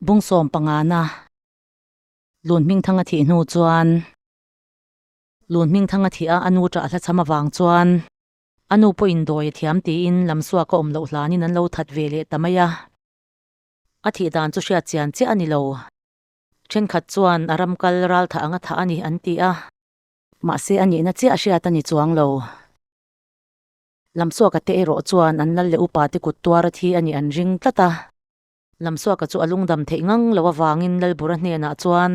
Bungsawm pangana Lunhmingthanga thih hnu chuan Lunhmingthanga thih a a nu ṭah hlacham avang chuan a nu pawhin dawi a thiam tiin lam suak a awm loh hlanin an lo that ve leh ta mai a. A thih dan chu hriat chian chiah a ni lo. Ṭhenkhat chuan a ram kal ral thah anga thah a ni an ti a. Mahse a nihna chiah hriat a ni chuang lo. Lam suaka te erawh chuan an lal leh upa te kut tuara thi a nih an ring tlat a. Lamsuaka chu a lungdam theih ngang lo avangin Lalbura hnenah chuan,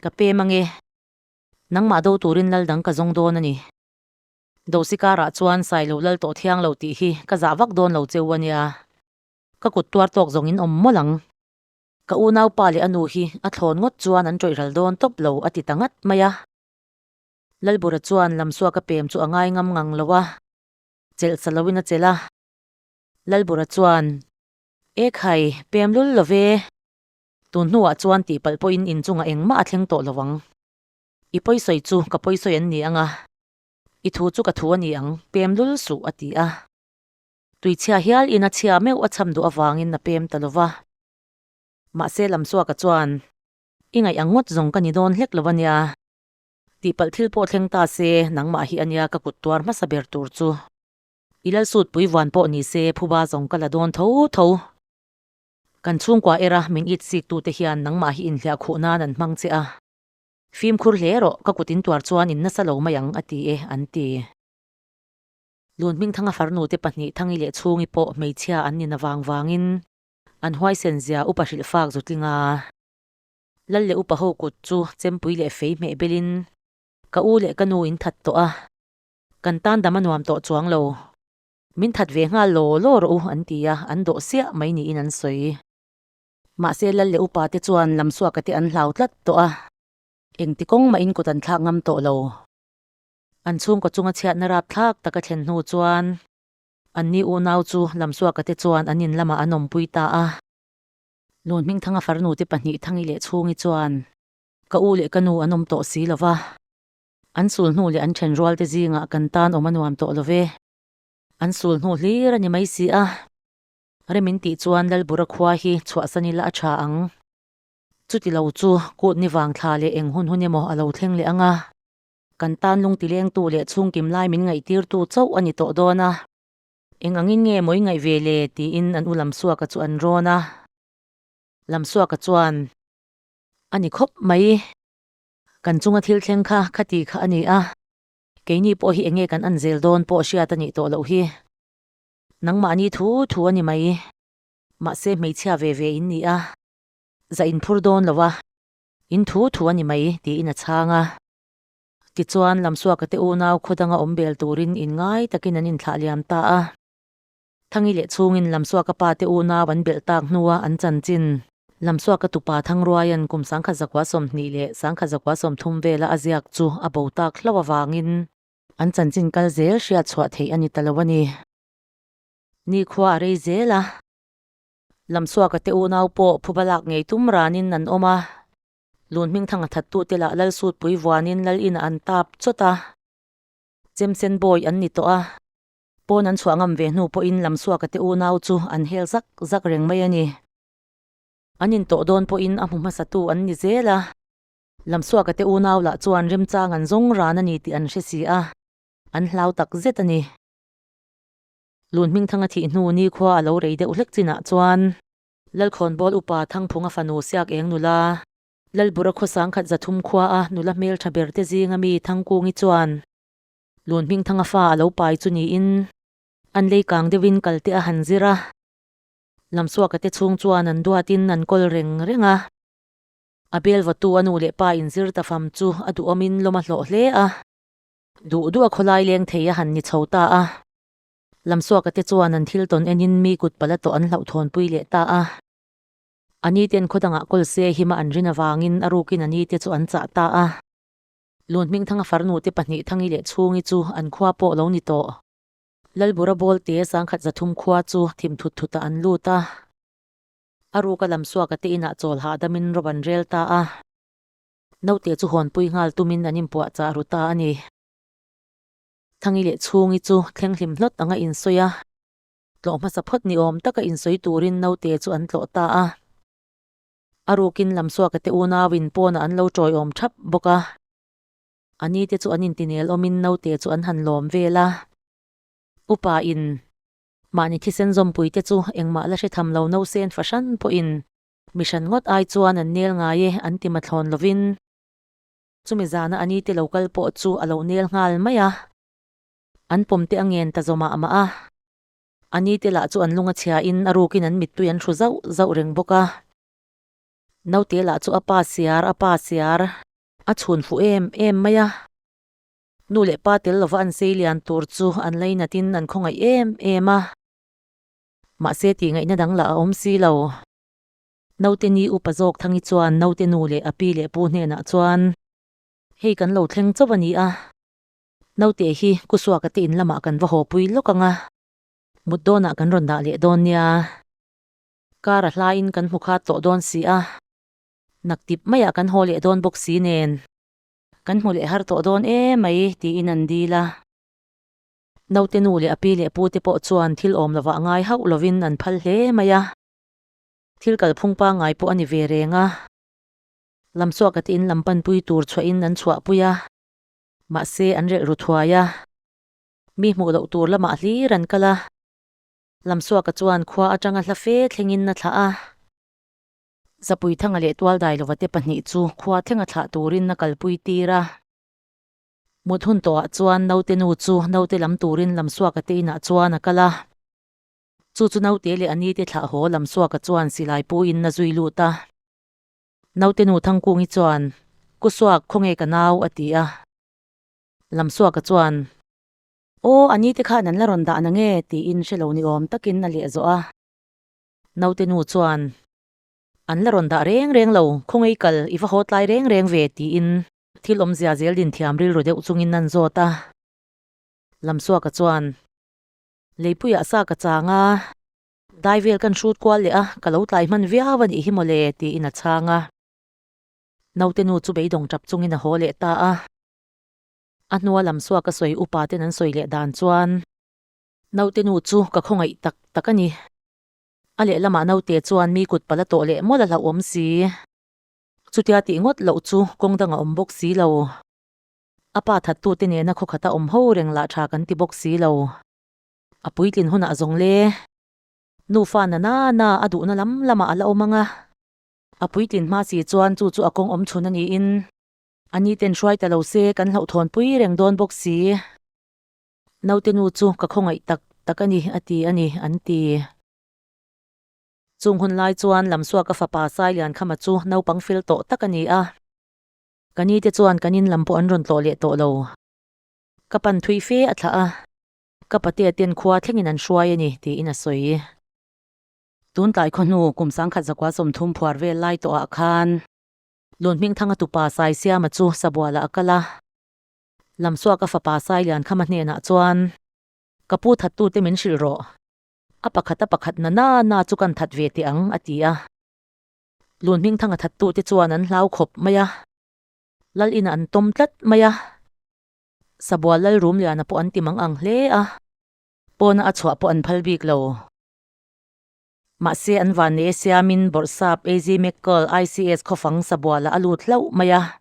Ka pem ange, nangmah do turin lal dang ka zawng dawn a ni. Dosi karah chuan sai lo lal tawh thiang lo tih hi ka zah vak dawn lo cheu a nia. Ka kut tuar tawk zawngin awm mawlh ang. Ka unaupa leh a nu hi a thlawn ngawt chuan an tawihral dawn tawp lo a ti ta ngat mai a. Lalbura chuan Lamsuaka pem chu a ngai ngam ngang lo a, chelh sa loin a chelh a. Lalbura chuan, E khai, pem lul lo ve. Tun hnuah chuan tihpalh pawhin inchunga engmah a thleng tawh lo ang. I pawisawi chu ka pawisawi an ni ang a, i thu chu ka thu a ni ang, pem lul suh, a ti a. Tui chhia hial in a chhia meuh a chham duh avangin a pem ta lo va. Mahse Lamsuaka chuan, I ngaih ang ngawt zawng ka ni dawn hlek lo a nia. Tihpalh thil pawh thleng ta se, nangmah hi a nia ka kut tuar hmasa ber tur chu. I Lalsut Puivuan pawh ni se phuba zawng ka la dawn tho tho. Kan chhungkua era min it sik tute hian nangmah hi inhliah khuh nan an hmang che a. Fimkhur hle rawh, ka kut in tuar chuan in nasa lo mai ang a ti e, an ti. Lunhmingthanga farnute pahnih Thangi leh Chhungi pawh hmeichhia an nin avang vangin an huaisen zia upa hrilh fak zu tling a. Lal leh upa ho kut chu chempui leh fei hmeh belin ka u leh ka nu in that tawh a. Kan tan dam a nuam tawh chuang lo. Min that ve nghal law law rawh u an ti a, an dawh siah mai niin an sawi. Mahse Lal leh upa te chuan lam suaka te an hlau tlat tawh a. Engti kawng mahin kut an thlak ngam tawh lo. An chhungkaw chunga chhiatna rap thlak taka thlen hnu chuan. An ni unau chu lam suaka te chuan an in lamah an awmpui ta a. Lunhmingthanga farnute pahnih Thangi leh Chhungi chuan. Ka u leh ka nu an awm tawh si lova. An sul hnu leh an then rual te zingah kan tan awm a nuam tawh lo ve. An sul hnu hlir a ni mai si a. Rem in tih chuan Lalbura khua hi chhuahsan ila a tha ang. Chuti lo chu kut ni vang thla leh eng hun hun emaw a lo thleng leh ang a. Kan tan lungti lengtu leh chhungkim lai min ngaihtirtu chauh a ni tawh dawn a. Eng angin nge mawi ngaih ve le tiin an u Lamsuaka chu an rawn a. Lamsuaka chuan, A ni khawp mai. Kan chunga thil thleng kha khati kha a ni a. Keini pawh hi enge kan an zel dawn pawh hriat a nih tawh loh hi. Nangmahni thu thu a ni mai. Mahse hmeichhia ve ve in ni a. Za in phur dawn lo a. In thu thu a ni mai, tiin a chhang a. Tichuan, Lamsuaka te unau khaw danga awmbel turin in ngai takin an in thlah liam ta a. Thangi leh chhungin Lamsuaka pa te unau an belh tak hnua an chanchin. Lamsuaka tupa Thangruaia'n kum sangkhat zakua sawmhnih leh sangkhat zakua sawmthum vela a ziak chu a bo tak hlo avangin. An chanchin kal zel hriat chhuah theih a ni ta lo a ni. Nikhua a rei zel a. Lamsuaka te unau pawh phuba lak ngei tum ranin an awm a. Lunhming thang a thattu te lah Lalsutpui vuanin Lal ina an tap chawt a. Chemsen bawi an ni tawh a. Pawn an chhuah ngam ve hnu pawhin lam suaka te unau chu an hel zak zak reng mai a ni. An intawh dawn pawhin a hmu hmasa tu an ni zel a. Lam suaka te unau lah chuan remchang an zawng ran a ni tih an hre si a, an hlau tak zet a ni. Lunhming Thanga thih hnu nikhua a lo rei deuh hlek chin ah chuan. Lalkhawnbawl upa Thangphunga fanu Siak Eng nula. Lalbura khaw sangkhat Zathum khua a nula hmeltha ber te zinga mi Thangkungi chuan. Lunhmingthanga fa a lo pai chu niin an lei kang deuhin kalte a han zir a, lam suaka te chhung chuan an duatin an kawl reng reng a. A belvawtu a nu leh pa inzir ta fam chu a duhawmin lawm a hlawh hle a. Duh duh a khawlai leng thei a han ni chho ta a, lam suaka te chuan an thil tawn enin mi kut pala tawh an hlauh thawnpui leh ta a. A nite'n khaw dangah kawl se hima an rin avangin a rukin a nite chu an chah ta a. Lunhmingthanga far nute pahnih Thangi leh Chhungi chu an khua pawh lo ni tawh. Lalbura Bawlte Sangkhat Zathum khua chu thim thut thuta an lut a. A ruka lam suaka te inah chawl hahdamin rawp an rel ta a. Naute chu hawnpui nghal tumin an inpuah chah ru ta a ni. Thangi leh Chhungi chu thleng hlim hlawt anga insawi a. Tlawh hmasa phawt ni awm taka insawi turin naute chu an tlawh ta a. A rukin lam suak a te u nau in pawnah an lo tawi awm thap bawk a. A ni te chu an inti nel awmin naute chu an han lawm vel a. Upa in. Mahni thisen zawmpui te chu engmah la hre tham lo no se an fahran pawhin. Mihran ngawt ai chuan an nel ngai e an ti mathlawn lovin. Chumi zana a ni te lo kal pawh chu a lo nel nghal mai a. An pawm te a ngen ta zawmah mah a. A ni te lah chu an lunga chhia in a rukin an mittui an hru zauh zauh reng bawk a. Naute lah chu a pa siar, a pa siar. A chhun fuh em em mai a. Nu leh pa tel lova an sei lian tur chu an lei nat in an khawngaih em em a. Mahse tih ngaihna dang lah a awm si lo. Naute ni upa zawk Thangi chuan naute nu leh a pi leh pu hnenah chuan, Hei kan lo thleng chauh a ni a. Naute hi Kusuaka te in lamah kan va haw pui lawk anga. Mut dawnah kan rawn dah leh dawn nia. Car a hlaiin kan hmu khat tawh dawn si a. Nak tip maiah kan haw leh dawn bawk si nen. Kan hmu leh har tawh dawn e mai tiin an dil a. Naute nu leh a pi leh pu te pawh chuan thil awm lovah ngai hauh lovin an phal hle mai a. Thil kalphung pangai pawh a ni ve reng a. Lamsuaka te in lam panpui tur chhuahin an chhuah pui a. Mahse an rilh ru thuai a, mi hmuh loh tur lamah hlir an kal a. Lamsuaka chuan khua atanga hla fe thlengin a thlah a. Zapuithanga leh Tualdailova-te pahnih chu khua thlenga thlah turin a kalpui tir a. Mut hun tawhah chuan naute nu chu naute lam turin Lamsuaka-te inah chuan a kal a. Chu chu naute leh a nite thlah haw Lamsuaka chuan silai pu in a zui lut a. Nautenu Thangkungi chuan, Ku Suak, khaw nge ka nau? a ti a. Lamsuaka chuan. Aw, a ni te khan an la rawn dah nange? tiin hre lo ni awm takin a leh zawh a. Nautenu chuan, An la rawn dah reng reng lo, khaw ngei kal, i va haw tlai reng reng ve, tiin. Thil awmzia zel din thiam rilru deuh chungin an zawt a. Lamsuaka chuan, Leipuia sa ka chang a. Dai vel kan hrut kual leh a, ka lo tlai hman viau a nih hi mawle, tiin a chhang a. Naute nu chu beidawng tap chungin a haw leh ta a. A hnua lam suaka sawi upa ten an sawi leh dan chuan. Naute nu chu ka khawngaih tak tak a ni. A lehlamah naute chuan mi kut pala tawh leh mawla hlauh awm si. Chutia tih ngawt loh chu kawng dangah awm bawk si lo. A pa thattute nena khawkhata awm ho reng lah tha kan ti bawk si lo. A puitlin hunah zawng le nufa nana na a duhna lam lamah a la awm ang a. A puitlin hma si chuan chu chu a kawng awm chhun a niin ani ten hruai ta lo se kan hlauhthawn pui reng dawn bawk si. Naute nu chu ka khawngaih tak tak a ni a ti a ni an ti. Chung hun lai chuan Lamsuaka fapa Sailian Khama chu naupang fel tawh tak a ni a. Ka ni te chuan kan in lam pawh an rawn tlawh leh tawh lo. Ka pan thui fe a thlah a. Ka pate a ten khua thlengin an hruai a ni, tiin a sawi. Tuntlai khaw hnu kum sangkhat zakua sawmthum phuar vel lai tawhah khan. Lunhmingthanga tupa Sai Siama chu sabualah a kal a. Lamsuak a fapa Sai Liankhama hnenah chuan. Ka pu thattute min hrilh rawh. A pakhata pakhat nana na chu kan that ve teh ang, a ti a. Lunhmingthanga thattute chuan an hlau khawp mai a. Lal inah an tawm tlat mai a. Sabual Lalrumliana pawh an ti mang ang hle a, pawna a chhuah pawh an phal bik lo. Mahse, an van leh e siamin bawrhsap AZ Mekal ICS khawfang Sabuala a lut hlauh mai a.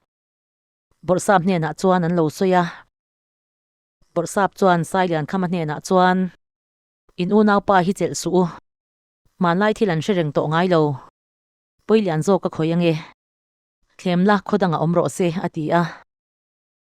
Bawrhsap hnenah chuan an lo sawi a. Bawrhsap chuan Sailiankhama hnenah chuan, In unaupa hi chelh suh u. Hmanlai thil an hre reng tawh ngai lo. Pawilian zawk ka khawih ange. Thlem la, khaw dangah awm rawh se, a ti a.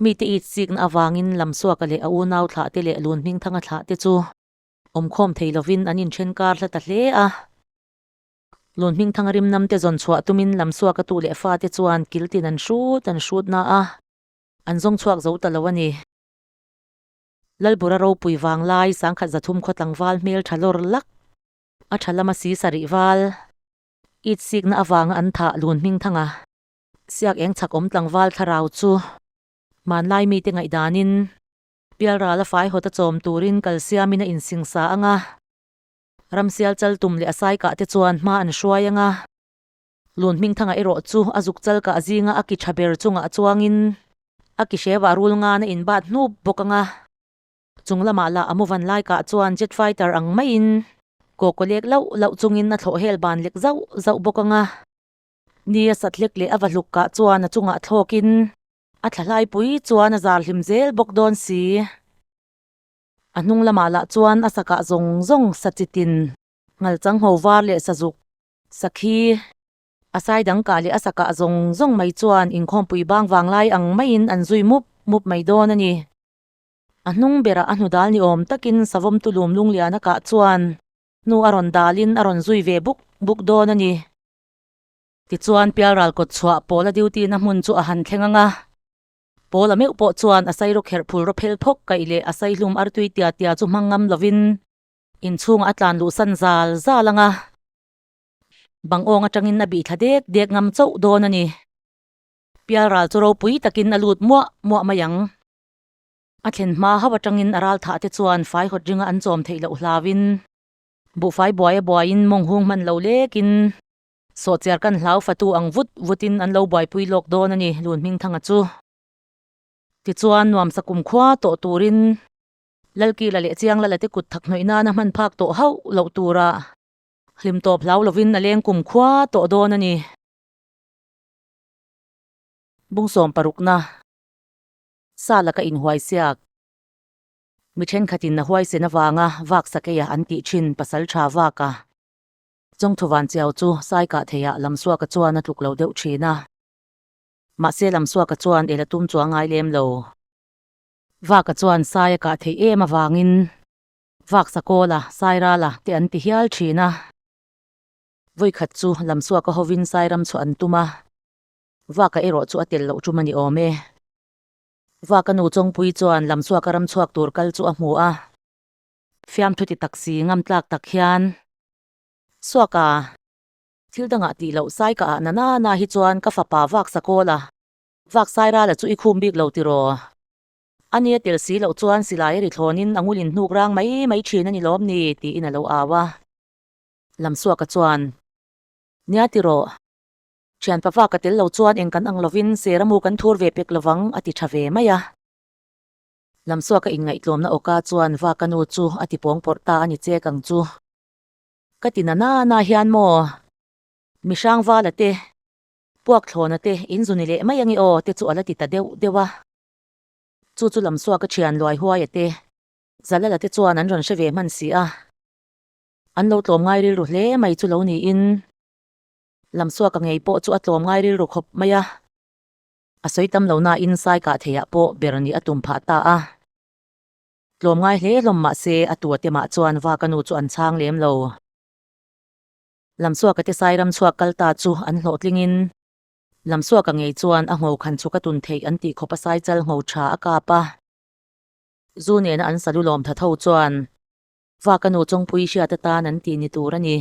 Mite itsikna avangin lam suaka leh a unau thlah te leh lun hming thanga thlah te chu awmkhawm thei lovin an inthenkar hla ta hle a. Lun hming thanga rimnam te zawn chhuah tumin lam suaka tu leh fa te chuan kiltin an hrut an hrut na a, an zawng chhuak zo ta lo a ni. Lalbura ropui vang lai sangkhat zathum khaw tlangval hmel tha lawr lak, a tha lama si sarih val, itsikna avanga an thah lun hming thanga Siak eng chhak awm tlangval thlarau chu. Hmanlai mite ngaihdanin. Bialrala fai hawta chawm turin kalsiamin a insingsa ang a. Ramsial chal tum leh a sai kah te chuan hma an hruai ang a. Lunhmingthanga erawh chu a zuk chal kah zinga a ki tha ber chungah chuangin a ki hrevah rul ngan a inbat hnup bawk ang a. Chung lamah lah a muvan lai kah chuan jet fighter ang maiin kawkaw lek loh loh chungin a thlawh hel ban lek zauh zauh bawk ang a. Ni a sathlek leh a va hluk kah chuan a chungah thlawkin a thlahlaipui chuan a zar hlim zel bawk dawn si. A hnung lamah lah chuan a sakah zawng zawng sachitin nghal changho var leh sazuk, sakhi, a sai dang kah leh a sakah zawng zawng mai chuan inkhawmpui bang vang lai ang maiin an zui mup mup mai dawn a ni. A hnung berah a hnudal ni awm takin savawmtu Lumlungliana kah chuan hnu a rawn dalin a rawn zui ve buk buk dawn a ni. Tichuan Pialral kawtchhuah Paula duty na hmun chu a han thleng ang a. Paula meuh pawh chuan a sairaw kherh phul raw phel thawk kaih leh a sai hlum ar tui tia tia chu hmang ngam lovin inchhungah a tlan luhsan zal zal ang a. Bang awng atangin a bih thla dek dek ngam chauh dawn a ni. Pialral chu ropui takin a lut muah muah mai ang. A thlen hma hauh atangin a ral thah te chuan fai hawt ringa an chawm theih loh hlavin Buhfai buai a buaiin mawng hung hman lo lekin. Sawhchiar kan hlau fatu ang vut vutin an lo buaipui lawk dawn a ni Lunhming Thanga chu. Tichuan nuamsa kum khua tawh turin. Lalkila leh Chianglala te kut thak hnawih nana hman phak tawh hauh loh turah. Hlim tawp hlau lovin a leng kum khua tawh dawn a ni. Bungsawm parukna sa laka inhuaisiak. Mi thenkhatin a huaisen avanga vak sakeia an tih thin pasal tha vaka Chawngthuvan Chiau chu saikah theiah Lamsuaka chuan a tluk lo deuh thin a. Mahse Lamsuaka chuan ela tum chu a ngai lem lo. Vaka chuan sai a kah theih em avangin vak Sakawla, Sairala te an ti hial thin a. Vawikhat chu Lamsuaka hovin Sairam chhuah an tum a. Vaka erawh chu a tel loh tum a ni awm e. Vaka nu Chawngpuii chuan lam chhuak a ram chhuak tur kal chu a hmu a. Fiam thuti tak si ngam tlak tak hian suak a. Thil dangah tih loh sai ka ah na na na hi chuan ka fapa vak sakawl a. Vak Sairala chu i khum bik lo tiraw? A nia tel si loh chuan silai a ri thlawn in a ngul in hnuk rang mai mai thin a ni lawm ni? ti in a lo au a. Lam suaka chuan. Nia tiraw? Thian pava ka tel lo chuan eng kan ang lovin Seramu kan thur ve pek lovang, a ti tha ve mai a. Lamsuaka in ngaihtlawmna awkah chuan va ka nu chu a ti pawngpawrh ta a ni chek ang chu. Ka ti na nana hian maw? Mihrang vala te, puakthlawna te, in zu ni leh mai ange aw te chu a la ti ta deuh deuh a. Chu chu Lamsuaka thian luai huaia te, Zalala te chuan an rawn hre ve hman si a. An lo tlawm ngai rilru hle mai chu lo niin. Lam suaka ngei pawh chu a tlawm ngai rilru khawp mai a. A sawi tam lo nain sai kah theih ah pawh ber nih a tum phah ta a. Tlawm ngai hle hlawm mahse a tua te mah chuan vaka nu chu an chhang lem lo. Lam suaka te sai ram chhuak kal ta chu an hlawh tling in. Lam suaka ngei chuan a ngo khan chu ka tun theih an tih khawp a sai chal ngo tha a kap a. Zu nena an salu lawm tha tho chuan. Vaka nu chawngpuii hriat atan an tih ni tur a ni.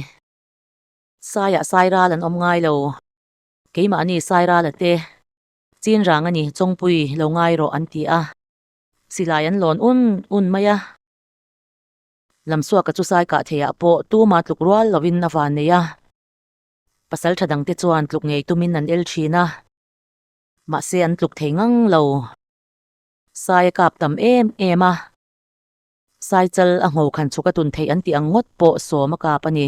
Saiah Sairal an awm ngai lo. Keimahni Sairal a te. Chinrang a ni, chawngpui lo ngai rawh an ti a. Silai an lawn un un mai a. Lamsuaka chu sai kah theiah pawh tuma tluk rual lovin a van nei a. Pasal tha dangte chuan tluk ngei tumin an el thin a. Mahse an tluk thei ngang lo. Sai a kap tam em em a. Sai chal a ngho khan chhuka tun theih an tih ang ngawt pawh sawm a kap a ni.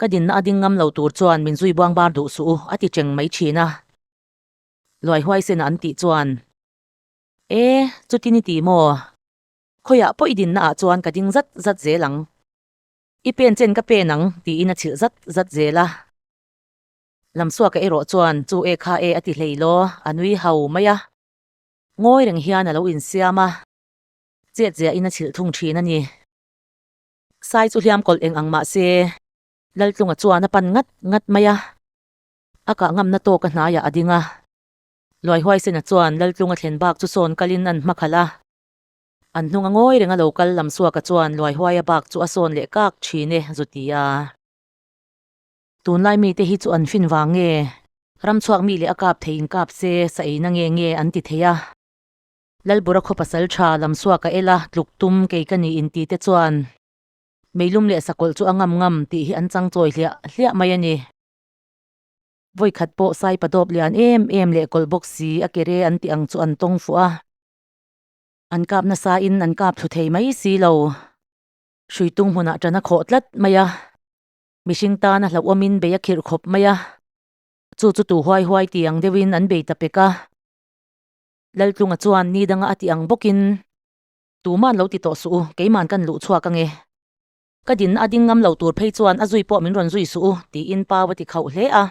Ka dinna a ding ngam lo tur chuan min zui buang bar duh suh u a ti cheng mai thin a. Luai huai sena an tih chuan. E, chutin i ti maw? Khawiah pawh i dinna ah chuan ka ding zat zat zel ang. I pen chen ka pen ang tiin a chhilh zat zat zel a. Lam suaka erawh chuan chu e kha e a ti hlei law a nui hau mai a. Ngawi reng hian a lo insiam a. Chiat ziahin a chhilh thung thin a ni. Sai chu hliam kawlh eng ang mah se. Laltlunga chuan a pan ngat ngat mai a. A kah ngamna tawk a hnaiah a ding a. Luai Huaisena chuan Laltlunga thlen bak chu sawn kalin an hma khalh a. An hnung a ngawi reng a lo kal lam suaka chuan Luai Huaia bak chu a sawn leh kak thin e zu ti a. Tunlai mite hi chu an fin vang nge? Ramchhuak mi leh a kap thei inkap se sa eina nge nge an ti thei a. Lalbura khaw pasal tha lam suak a el a, tluk tum kei ka ni inti te chuan Meilum leh Sakawlh chu a ngam ngam tih hi an chang chawi hliah hliah mai a ni. Vawikhat pawh sai padawp lian em em leh kawlh bawk si a ke re an tih ang chu an tawng fuh a, an kap nasa in an kap thlu thei mai si lo. Hrui tung hmunah tan a khawh tlat mai a, mihring tan a hlauhawm in bei a khirh khawp mai a, chu chu tu huai huai ti ang deuh in an bei ta pek a. Laltlunga chuan ni danga a tih ang bawkin, Tuman lo ti tawh suh u, keiman ka inluh chhuak ange. Ka dinna a ding ngam lo tur phei chuan a zui pawh min rawn zui suh u, tiin Pau a ti khauh hle a.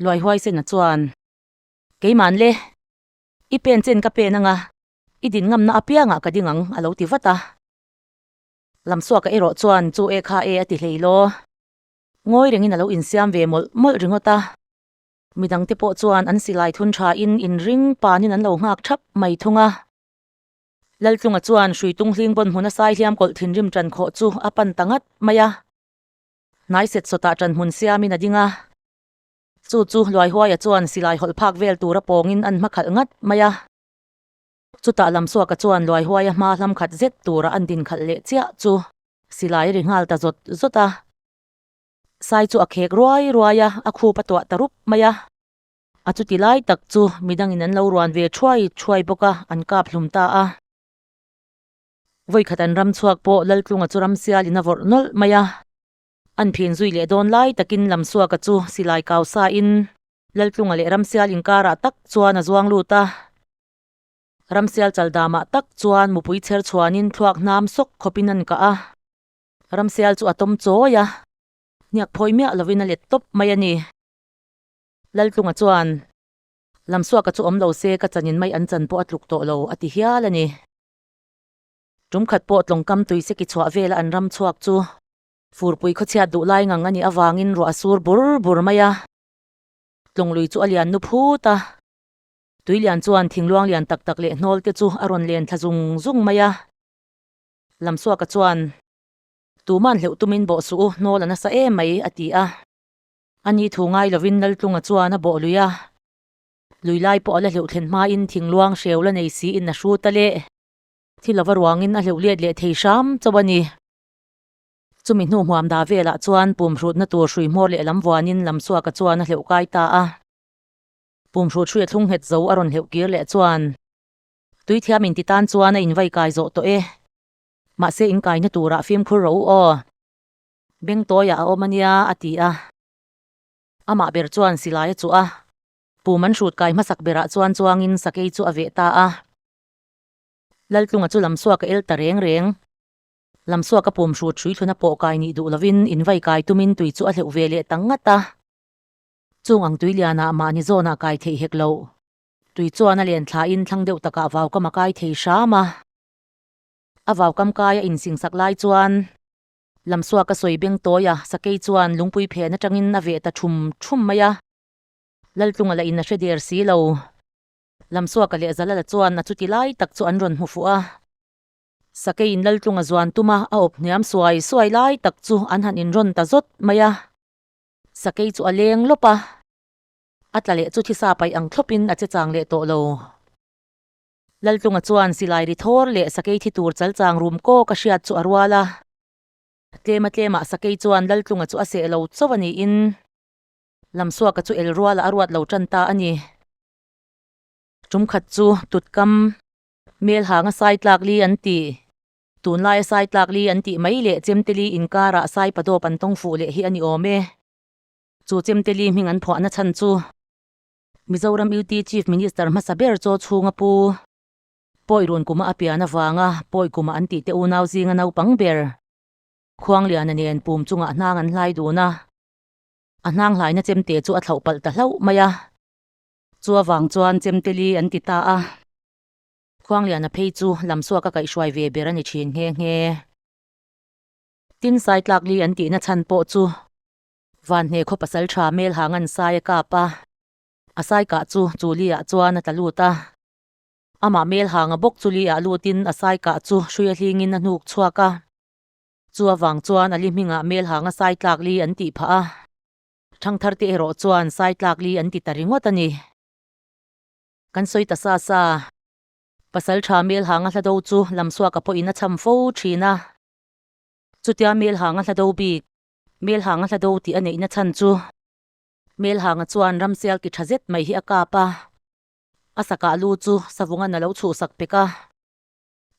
Luai Huaisena chuan, Keiman le, i pen chen ka pen anga, i din ngamna apiangah ka ding ang, a lo ti vat a. Lam suaka erawh chuan chu e kha e a ti hleilaw, ngawi rengin a lo insiam ve mawlh mawlh ringawt a. Mi dangte pawh chuan an silai thun thain in ring panin an lo nghak thap mai thung a. Laltlunga chuan hrui tung hling bawn hmuna sai hliam kawlh thinrim ṭan khawh chu a pan ta ngat mai a. Hnai set sawtah ṭan hmun siamin a ding a. Chu chu Luaihuaia chuan silai hawlh phak vel tura pawngin an hma khalh ngat mai a. Chutah lam suaka chuan Luaihuaia hma hlam khat zet tura an din khalh leh chiah chu silai ri nghal ta zawt zawt a. Sai chu a khek ruai ruai a, a khup a tuah ta rup mai a. A chu ti lai tak chu midangin an lo ruan ve thuai thuai bawk a, an kap hlum ta a. Vawikhat an ram chhuak pawh Laltlunga chu ram sial in a vawrh nawlh mai a. An phin zui leh dawn lai takin lam suaka chu silai kau sa in Laltlunga leh ram sial inkara tak chuan a zuang lut a. Ram sial chal damah tak chuan mupui chher chhuan in thluak hnam sawk khawp in an kah a. Ramsial chu a tawm chawi a. Hniak phawi miah lovin a let tawp mai a ni. Laltlunga chuan, Lamsuaka chu awm lo se ka chanin mai an chan pawh a tluk tawh lo, a ti hial a ni. Tumkhat pawh tlawngkam tui se ki chhuah vela an ram chhuak chu. Furpui khawchhiat duh lai ngang a nih avangin ruah a sur bur bur mai a. Tlawnglui chu a lian nu phut a. Tuilian chuan thingluang lian tak tak leh hnawlte chu a rawn len thla zung zung mai a. Lamsuaka chuan, Tuman hleuh tumin bawh suh u, nawl a nasa em mai, a ti a. Ani thu ngai lovin Laltlunga chuan a bawh lui a. Lui lai pawh a la hleuh thlen hmain thing luang hreu la nei si in a hru ta le. Thi lova ruangin a hleuh liat leh thei hram chauh a ni. Chumi hnu hmuam dah velah chuan pum hrutna tur hrui hmawr leh lam vuanin Lamsuaka chuan a hleuh kai ta a. Pum hrut hruia thlung nghet zo a rawn hleuh kir leh chuan. Tuithiam in ti tan chuan a invai kai zawh tawh e. Mahse in kaina turah fimkhur ro u aw. Bengtawiah a awm a nia a ti a. Amah ber chuan silai a chuh a. Pu Manhrut kai hmasak berah chuan chuangin sakei chu a veh ta a. Laltlunga chu Lamsuaka el ta reng reng. Lamsuaka Pum Hrut hrui thluna pawh kai nih duh lovin invai kai tumin tui chu a hleuh ve leh ta ngat a. Chung ang Tuiliana mahni zawnah kai theih hek loh. Tui chuan a len thla in thlang deuh takah vaukam a kai thei hram a. A vaukam kai a in singsak lai chuan Lamsuak a sawi beng tawi a, Sakei chuan lungpui phen atang in a veh ta thum thum mai a. Laltlunga la in a hre der si lo. Lamsuaka leh Zalala chuan a chuti lai tak chu an rawn hmu fuh a. Sakei in Laltlunga zuan tum a, a awp hniam suai suai lai tak chu an han in rawn ta zawt mai a. Sakei chu a leng lawp a. A tla leh chu thisa paih ang thlawpin a che chang leh tawh lo. Laltlunga chuan silai ri thawr leh sakei thi tur chal chang rum kawk a hriat chu a rual a. Tlema tlemah sakei chuan Laltlunga chu a seh lo chauh a niin lam suaka chu el rualah a ruat lo tan ta a ni. Tum khat chu tutkam. Melhanga sai tlak li an ti. Tunlaia sai tlak li an tih mai leh Chemteli inkara sai padawp an tawng fuh leh hi a ni awm e. Chu Chemteli hming an phuahna chhan chu Mizoram UT Chief Minister hmasa ber chaw chhunga pu Pawi Runkuma a pian avanga Pawi Kuma an tihte unau zinga naupang ber Khuangliana nen pum chungah hnang an hlai dun a, a hnang hlaina chemte chu a thlauh palh ta hlauh mai a. Chu avang chuan Chemteli an ti ta a. Khuangliana phei chu lam suak a kaih hruai ve ber a ni thin nghe nghe. Tin Saitlakli an tihna chhan pawh chu Vanhne khaw pasal tha Melhangan sai a kap a, a sai kah chu chu Lia chuan a tla lut a. Amah Melhanga bawk chu Lia lutin a sai kah chu hruiahlingin a hnuk chhuak a. Chu avang chuan Ali hmingah Melhanga sai tlak li an tih phah a. Thangthar te erawh chuan sai tlak li an ti ta ringawt a ni. Kan sawi ta sa sa. Pasal tha Melhanga hla do chu lamsuaka pawhin a cham fo thin a. Chutia Melhanga hla do bik. Hmelhang a hla do tih a neihna chhan chu. Hmelhanga chuan Ramsial ki tha zet mai hi a kap a, a sakah lu chu savunga na lo chhuh sak pek a.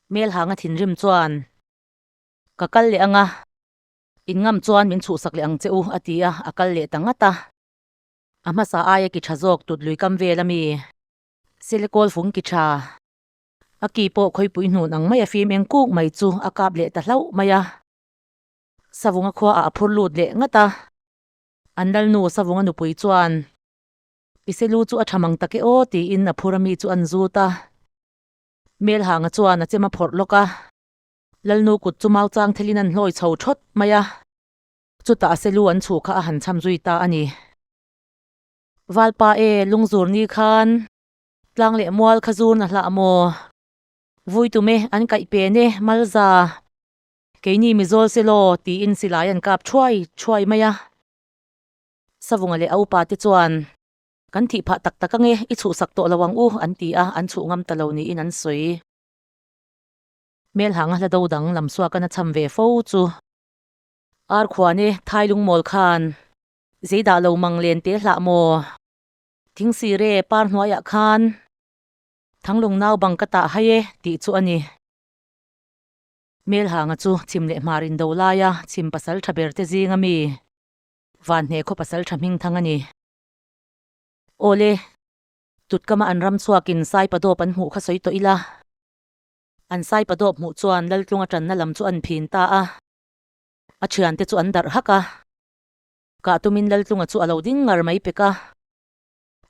Hmelhanga thinrim chuan, Ka kal leh anga, in ngam chuan min chhuh sak leh ang che u, a ti a, a kal leh ta ngat a. A hmasa aia ki tha zawk tut lui kam vel a mi? Sele kawl fung ki tha. A ki pawh khawipuihnun ang maia fim eng kuk mai chu a kap leh ta hlauh mai a. Savunga khuaah a phur lut leh ngat a. An lalnu Savunga nupui chuan, Ise lu chu a ṭham ang tak e aw, tiin a phur a mi chu an zut a. Melhanga chuan a chem a phawrh lawk a. Lalnu kut chu mau chang thelin an hlawi chho ṭhawt mai a. Chutah a selu an chhuh kha a han cham zui ta a ni. Valpa e, lungzur ni khan tlang leh mual kha zurna hlah maw? Vui tum e, an kaih pen e, malza. Keini Mizawl se law, tiin silai an kap thuai thuai mai a. Savunga leh a upa te chuan. Kan thih phah tak tak ange, i chuhsak tawh lo ang u, an ti a, an chuh ngam ta lo niin an sawi. Hmelhnghanga hla do dang lam suakan a cham ve fo chu. Arkhuan e, Thai Lungmawl khan. Zeidah lo mang len te hlah maw? Thing sir e, par hnuaiah khan. Thanglung nau bang ka tah hai e, tih chu a ni. Hmelhanga chu chim leh hmar in do laia chim pasal tha ber te zing a mi? Vanhne khaw pasal tha hming thang a ni. Awle. Tutkama an ram chhuak in Saipa Dawp an hmuh kha sawi tawh ila. An Saipa Dawp hmuh chuan Laltlunga tanna lam chu an phin ta a. A thian te chu an darh hak a. Kah tumin Laltlunga chu a lo ding ngar mai pek a.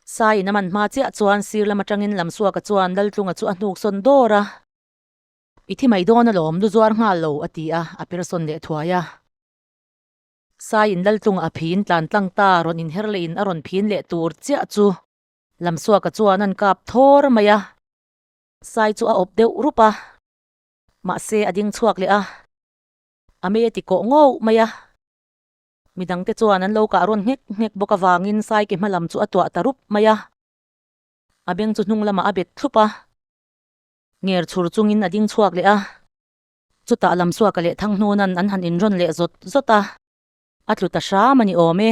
Sai in a man hma chiah chuan sir lam atangin lam suaka chuan Laltlunga chu a hnuk sawn dawr a. I thi mai dawn alawm, lu zuar nghal lo, a ti a, a persawn leh thuai a. Sai in lal tlung a phiin tlan tlang ta rawn inher leh in a rawn phiin leh tur chiah chu. Lam suaka chuan an kap thawr mai a. Sai chu a awp deuh rup a, mahse a ding chhuak leh a, a mei a ti kawh ngawh mai a. Mi dang te chuan an lo kah rawn nghek nghek bawk avangin Sai ke hma lam chu a tuah ta rup mai a, a beng chu hnung lamah a bet thlup a. Nger chhur chungin a ding chhuak leh a. Chutah lam suaka leh thang hnunan an han inrawn leh zawt zawt a. A tlu ta hram a ni awm e.